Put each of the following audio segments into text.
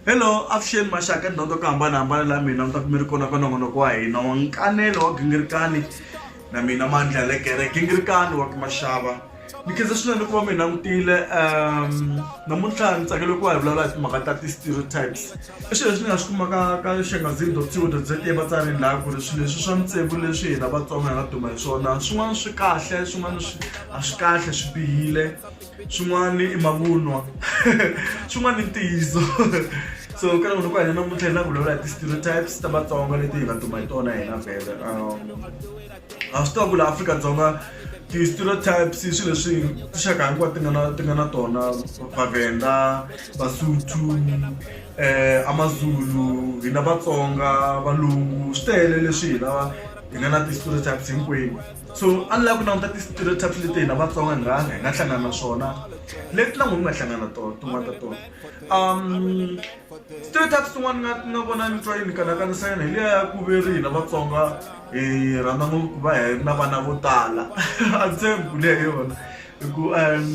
hello avuxeni maxaka ndhawu ta ku hambanahambana la mina mi ta ku mi ri kona ka nongonoko wa hina wa nkanelo wa gingirikani na mina mandla ya le gere gingirikani wa ku maxava mikhensa swinene ku va mi langutile um namuntlha ni tsakele ku va hi vulavula hi timhaka ta ti-stereotypes i swilo leswi ni nga swi kumaka ka xangazini dot co dot za evatsarini laha ku ri swilo leswi swa mintsevu leswi hina vatsonga hi nga duma hi swona swin'wana swi kahle swin'wana swi a swi kahle swi bihile swin'wana i mavunwa swin'wana i ntiyiso so ka loko ku hanya namuntlha hi na ku vulavula hi ti-stereotypes ta vatsonga leti hi nga duma hi tona hina vhele um a swi tiva ku laha Afrika-Dzonga ti-stereotypes i swilo leswi tinxaka hinkwato ti nga na ti nga na tona vavenda vasuthu um amazulu hina vatsonga valungu swi tele leswi hi lava hi nga na ti-stereotypes hinkwenu so a ni lava ku languta ti-stereotypes leti hina vatsonga hi nga hi nga hlangana na swona leti na n'wina mi nga hlangana tona tin'wana ta tona um Straight up swin'wana nga nga vona ni twa yi ni kanakanisa yona hi liya ya ku ve ri hina Vatsonga hi rhandza ngopfu ku va hi ri na vana vo tala a ndzi tshembi ku liya hi yona hi ku um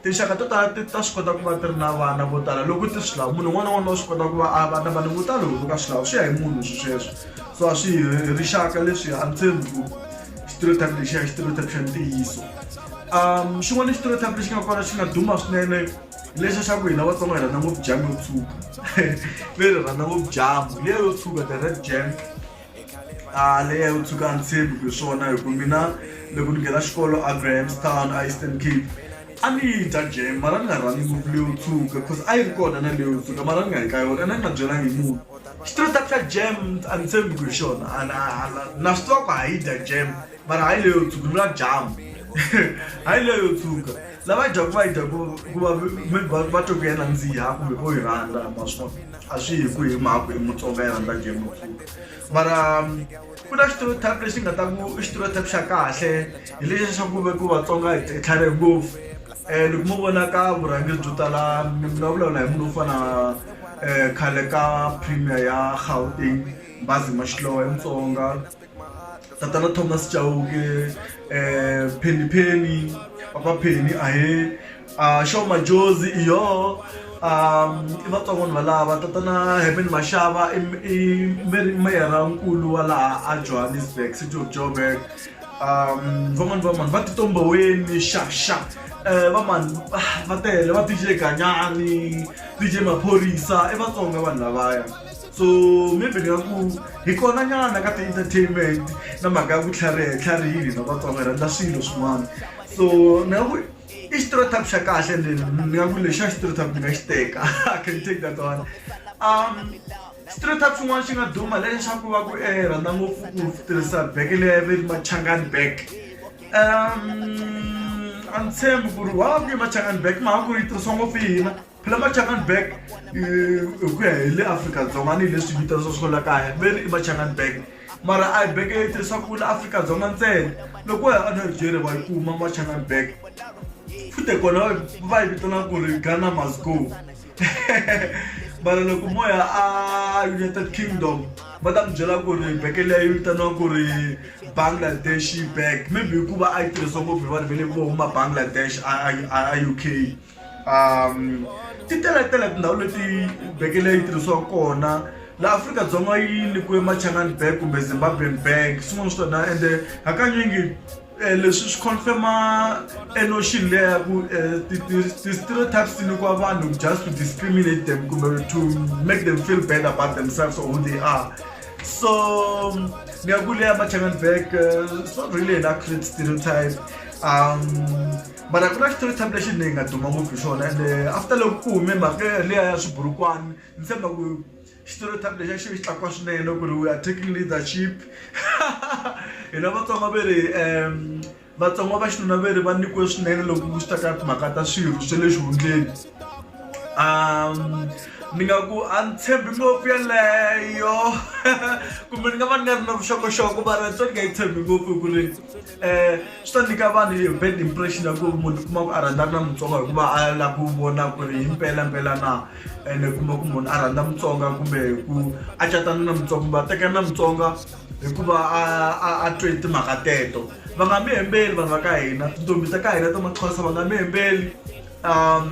tinxaka to tala ti ta swi kota ku va ti ri na vana vo tala loko ti swi lava munhu un'wana na un'wana wa swi kota ku va a va na vana vo tala loko ka swi lava swi ya hi munhu swi sweswo so a swi hi rixaka leswi a ndzi tshembi ku stereotype lexiya i stereotype xa ntiyiso um xin'wana i stereotype lexi nga kona xi nga duma swinene lexi xa ku hina vatsonga hi rhandza ngopfu jam yo tshuka ve ri rhandza ngopfu jamu leya yo tshuka the red jam a ah, leya yo tshuka a ni tshembi ku hi swona hi ku mina loko ni nghena xikolo a grahamstown a eastern cape a ni yi dya jam mara ni nga rhandzi ngopfu leyo tshuka because a yi ri kona na leyo tshuka mara ni nga yi ka yona ene ni nga byelangi munhu xitirata xa jam a ni tshembi ku hi xona na swi tiva ku ha yi dya jam mara hayi leyo tshuka ni la jamu hayi leyo tshuka lava dyaku va yi dyaku hikuva va twe ku ya nandziha kumbe vo yi rhandza maswona a swi hi ku hi mhaka i mutsonga yi rhandza game tshuka mara ku na xitirotap lexi nga ta ku i xitirotap xa kahle hi lexi xa ku ve ku vatsonga hi tlhare ngopfu um loko mo vona ka vurhangeri byo tala mi nga vulavula hi munhu wo fana um khale ka premier ya gauteng bazi mashlowa i mutsonga tatana thomas chauke eh, penny penny papa penny ahe uh, show majozi iyo um i vatsongo ni valava tatana heaven mashava i i meri meyara nkulu wa laha a johannesburg city of joburg um van'wani vamani va titomboweni xaxa um vamani va tele va dj ganyani dj maphorisa i vatsonga vanhu lavaya so maybe ni nga ku hi kona nyana ka ti-entertainment na mhaka ya ku tlhariha tlharihini na vatsonga rhandza swilo swin'wana so ni nga ku i xitirotap xa kahle ni nga ku lexi xa xitirotap ni nga xi teka i can take that one um xitirotap xin'wana xi nga duma lexaku va ku e rhandza ngopfu ku tirhisa beke leyi ve machangani back um a ni tshembi ku ri wa ku yi machangani back mhaka ku yi tirhisiwa ngopfu hina la machanganberg hi ku ya hi le afrika-dzonga ni hi leswi vitanisa swo la kaya ve ri i machanganberg mara a hi beke yi tirhisa ku la afrika-dzonga ntsena loko ya anigeria va yi kuma machanganberg futhi kona va yi vitana ku ri ghana must go mara loko mo ya a united kingdom va ta mi byela ku ri beke leyi yi vitaniwa ku ri bangladesh bag maybe hikuva a yi tirhisiwa ngopfu hi vanhu va le vo huma bangladesh a u k um ti teletele tindhawu leti beke leyi tirhisiwaka kona laha afrika-dzonga yi nyikiwe machangan bank kumbe zimbabwean bank swin'wana swi tona ende hakanyingi um leswi swi confirma enotion leya ya ku ti-stereotypes ti nyikiwa vanhu just to discriminate them kumbe to make them feel bad about themselves or who they are so ngiyakuleya machangan bank so really an accurate stereotype um mara ku na xitori time lexi ni nga duma ngopfu hi xona ende after loko ku hume mhaka leya ya swiburukwani ni tshemba ku xitori time lexi a xi xi tlakuka swinene ku ri we are taking leadership hina vatsonga ve ri um vatsonga va xinuna ve ri va nyikiwe swinene loko ku swi ta ka timhaka ta swirho swe le xihundleni um ni nga ku a ni tshembi ngopfu yeleyo kumbe ni nga va ni nga ri na vuxokoxoko mara ni twa ni nga yi tshembi ngopfu hi ku ri um swi ta nyika vanhu hi bad impression ya ku munhu kuma ku a rhandza ri na mutsonga hikuva a la ku vona ku ri hi mpelampela na ene kuma ku munhu a rhandza mutsonga kumbe ku a catana na mutsonga kumbe a tekana na mutsonga hikuva a twe timhaka teto va nga mi hembeli vanhu va ka hina tintombi ta ka hina ta maxhosa va nga mi hembeli um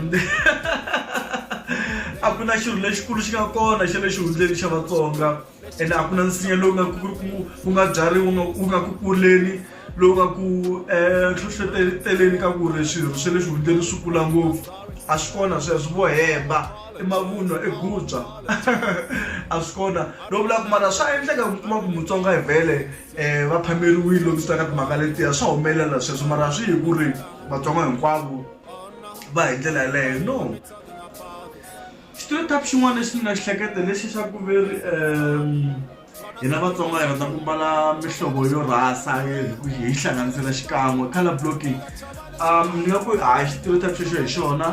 a ku na xilo lexikulu xi nga kona xa le xihundleni xa vatsonga ene a ku na nsinya lowu nga ku nga byariwa wu nga ku kuleni lowu nga ku um hlohleteleni ka ku ri swirho swa le xihundleni swi kula ngopfu a swi kona sweswo vo hemba i mavunwa i gubya a swi kona lo vulaka mara swa endleka ku kuma ku mutsonga hi vhele um va phameriwile loko swi ta ka timhaka letiya swa humelela sweswo mara swi hi ku ri vatsonga hinkwavo va hi ndlela yeleyo no Xitereotype xin'wana lexi ni nga xi hleketa hi lexi xa ku ve ri hina Vatsonga hi rhandza ku mbala mihlovo yo rhasa hi ku hi yi hlanganisela xikan'we colour blocking ni nga ku a hi xitereotype xexo hi xona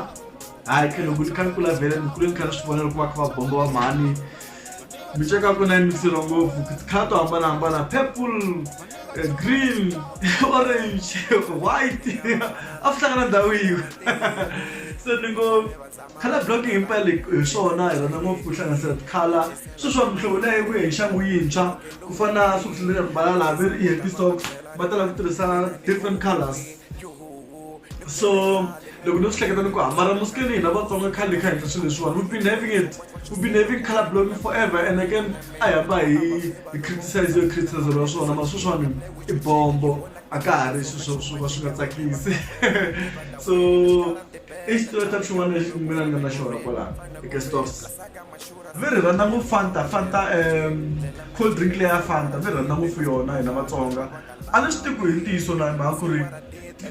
hayi kha loko ni kha ni kula vhele ni kule ni kha ni swi vona loko va kha va bomba va mhani miceka ya kona yi mikiseriwa ngopfu ti-colour to hambanahambana purple green orange white a swi hlangana ndhawu yin'we se ni ngo. Color blocking himpela hi swona hi rhandza ngopfu ku hlanganisa ti-color sweswi swa mihlovo leyi yi vuye hi nxangu yintshwa ku fana na swi kuhlule ya mbala laha ve ri i happy socks va tala ku tirhisa different colors so loko ni swi hleketa ni ku hambana musikeni hina vatsonga khale kha hindla swilo leswiwani we've been having it we've been having color blocking forever and again a hi hamba hi hi criticize yo criticism ya swona ma sweswiwani i bombo a ka ha ri swilo swo ka swi nga tsakisi so i xitoreta xin'wana lexi mina ni nga na xona kwala eka stores mi ri rhandza ngopfu fanta fanta um cold drink leya fanta mi rhandza ngopfu yona hina vatsonga a ni swi tiku hi ntiyiso na mhaka ku ri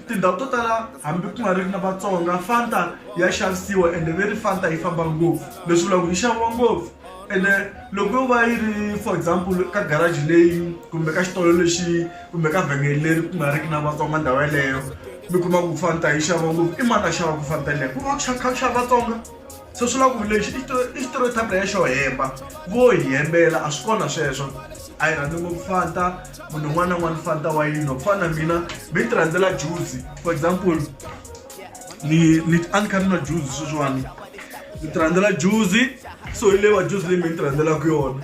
tindhawu to tala hambi ku nga ri na vatsonga fanta ya xavisiwa ende ve ri fanta yi famba ngopfu leswi vulaka ku yi xaviwa ngopfu ende loko yo va yi ri for example ka garage leyi kumbe ka xitolo lexi kumbe ka vhengele leri ku nga riki na vatsonga ndhawu yeleyo mi kuma ku fana ta yi xava ngopfu i mani a xava ku fana tanileyo ku va ku xava kha ku xava vatsonga se swi lava ku lexi i stereotype ya xo hemba vo hi hembela a swi kona sweswo a yi rhandzi ngopfu fanta munhu un'wana na un'wana fanta wa yini ku fana na mina mi ti rhandzela juzi for example ni ni a ni kha ni nwa juzi sweswiwani ni ti rhandzela juzi so hi leyi wa juzi leyi mi ni ti rhandzelaka yona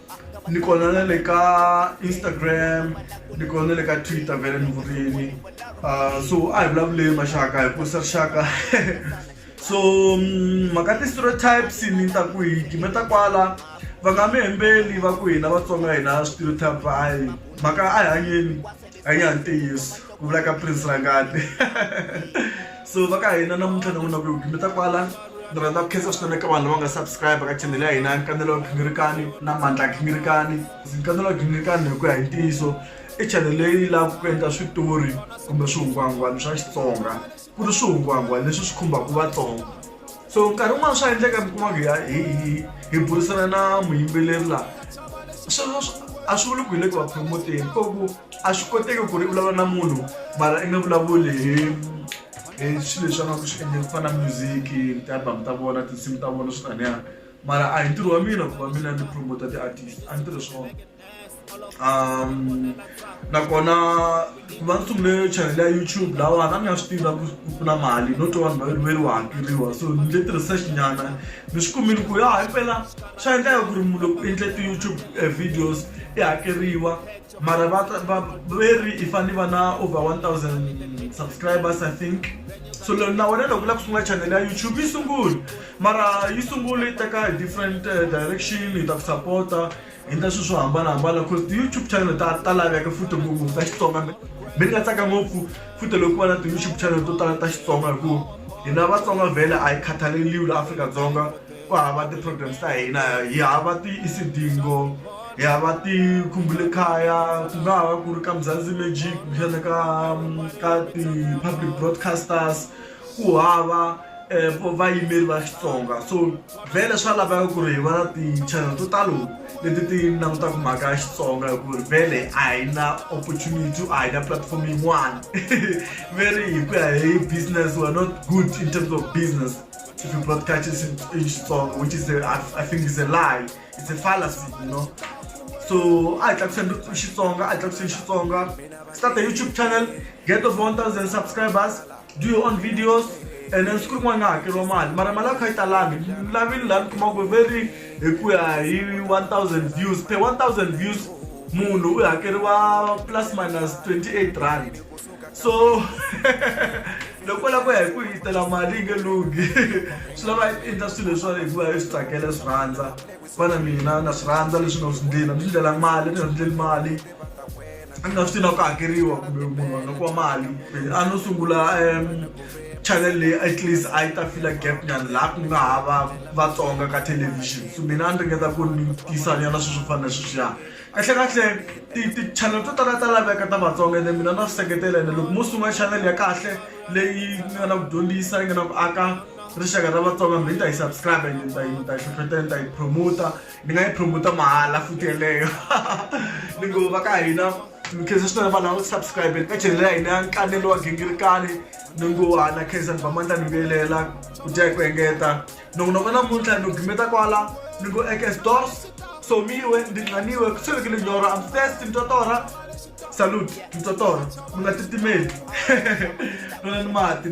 ni kona na le ka instagram ni kona na le ka twitter vele ni vurini uh, so a hi vulavuleni maxaka hi kurisa rixaka so mm, mhaka ti-stereotypes ni ta ku hi time ta kwala va nga mi hembeli va ku hina vatsonga hina stereotype va a hi mhaka a hi hanyeni a yi ya ntiyiso ku vula ka prince rangati so va ka hina namuntlha ni vona ku mi ta kwala ni rhandza ku khensa swinene ka vanhu lava nga subscribe ka chanel ya hina nkanelo wa ginirikani na mandla ginirikani nkanelo wa ginirikani hi ku ya hi ntiyiso i chanel leyi lavaka ku endla switori kumbe swihungwahungwana swa xitsonga ku ri swihungwahungwana leswi swi khumbaka vatsongo so nkarhi wun'wani swa endleka mi kuma ku ya hi hi hi burisana na muyimbeleri laha sweswo a swi vuli ku hi le ku va promoteni ko ku a swi koteki ku ri i vulavula na munhu mara i nga vulavuli hi hi swilo leswi a nga ku swi endleni ku fana na music ti-album ta vona tinsimu ta vona swi taniya mara a hi ntirho wa mina ku va mina ni promoter ti-artist a ni tirhi swona. um nakona ku va ni sungule chanel ya youtube lawa na ni nga swi tivi na ku ku na mali no twa vanhu va veri wa hakeriwa so ni le tirhisa xinyana ni swi kumile ku ya himpela swa endleka ku ri munhu loko u endle ti-youtube eh, videos i hakeriwa mara va ta- va- veri i fane va na over 1000 subscribers i think so lo- na wena loko u lava ku sungula chanel ya youtube yi sunguli mara yi sunguli yi teka hi different eh, direction hi ta ku sapota endla swilo swo hambanahambana cause ti-youtube channel ta ta laveka futhi ngopfu ta xitsonga mi ni nga tsaka ngopfu futhi loko ku va na ti-youtube channel to tala ta xitsonga hikuva hina vatsonga vhele a yi khathaleriwi la afrika-dzonga ku hava ti-programs ta hina hi hava ti-isidingo hi hava tikhumbule khaya ku nga ha va ku ri ka muzanzi magic kumbexana ka ka ti-public broadcasters ku hava um vayimeri va xitsonga so vhele swa laveka ku ri hi va na ti-channel to talo leti ti langutaka mhaka ya xitsonga hi ku ri vhele a hi na opportunity a hi na platform yin'wana veri hi ku ya hi business we're not good in terms of business if you broadcast it in xitsonga which is a, I, I think is a lie it's a fallacy you know so a hi tlakuseni xitsonga a hi tlakuseni xitsonga start a youtube channel get of 1000 subscribers do your own videos and then siku rin'wana nga hakeriwa mali mara mali a kha yi talangi lavini laha ni kuma ku very hi ku ya hi 1000 views per 1000 views munhu u hakeriwa plus minus 28 rand so loko la ku ya hi ku yitela mali yi nge lunghi swi lava yi endla swilo leswiwani hikuva yi swi tsakela swi rhandza fana mina na swi rhandza leswi nga swi ndleni a ni swi ndlela mali ni nga swi ndleli mali a nga swi tiva ku hakeriwa kumbe munhu a nga kuma mali a no sungula um channel leyi at least a yi ta fila gap nyana laha ku nga ha va vatsonga ka television so mina a ni ringeta ku ni tisa nyana sweswo fana na sweswiya kahlekahle ti-channel to tala ta laveka ta vatsonga ene mina na swi seketela ene loko mo sungula channel ya kahle leyi nga na ku dyondzisa yi nga na ku aka rixaka ra vatsonga mi ta yi subscribe ni ta yi ni ta yi hlohlotela ni ta yi promoter ni nga yi promote mahala futhi yeleyo ni ngo va ka hina mikhensa swinene vanhu lava subscribe ka chanel ya hina ya nkanelo wa gingirikani ni ngo hana khensani vamandla ni vuyelela ku dya hi ku engeta nongonoko namuntlha ni gimeta kwala ni ngo ekes dors somiwe ndi nxaniwe ku tshovekile nyoro am first mtotora salute mtotora mi nga titimeli nona ni mati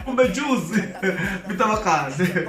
kumbe juzi mi ta va kahle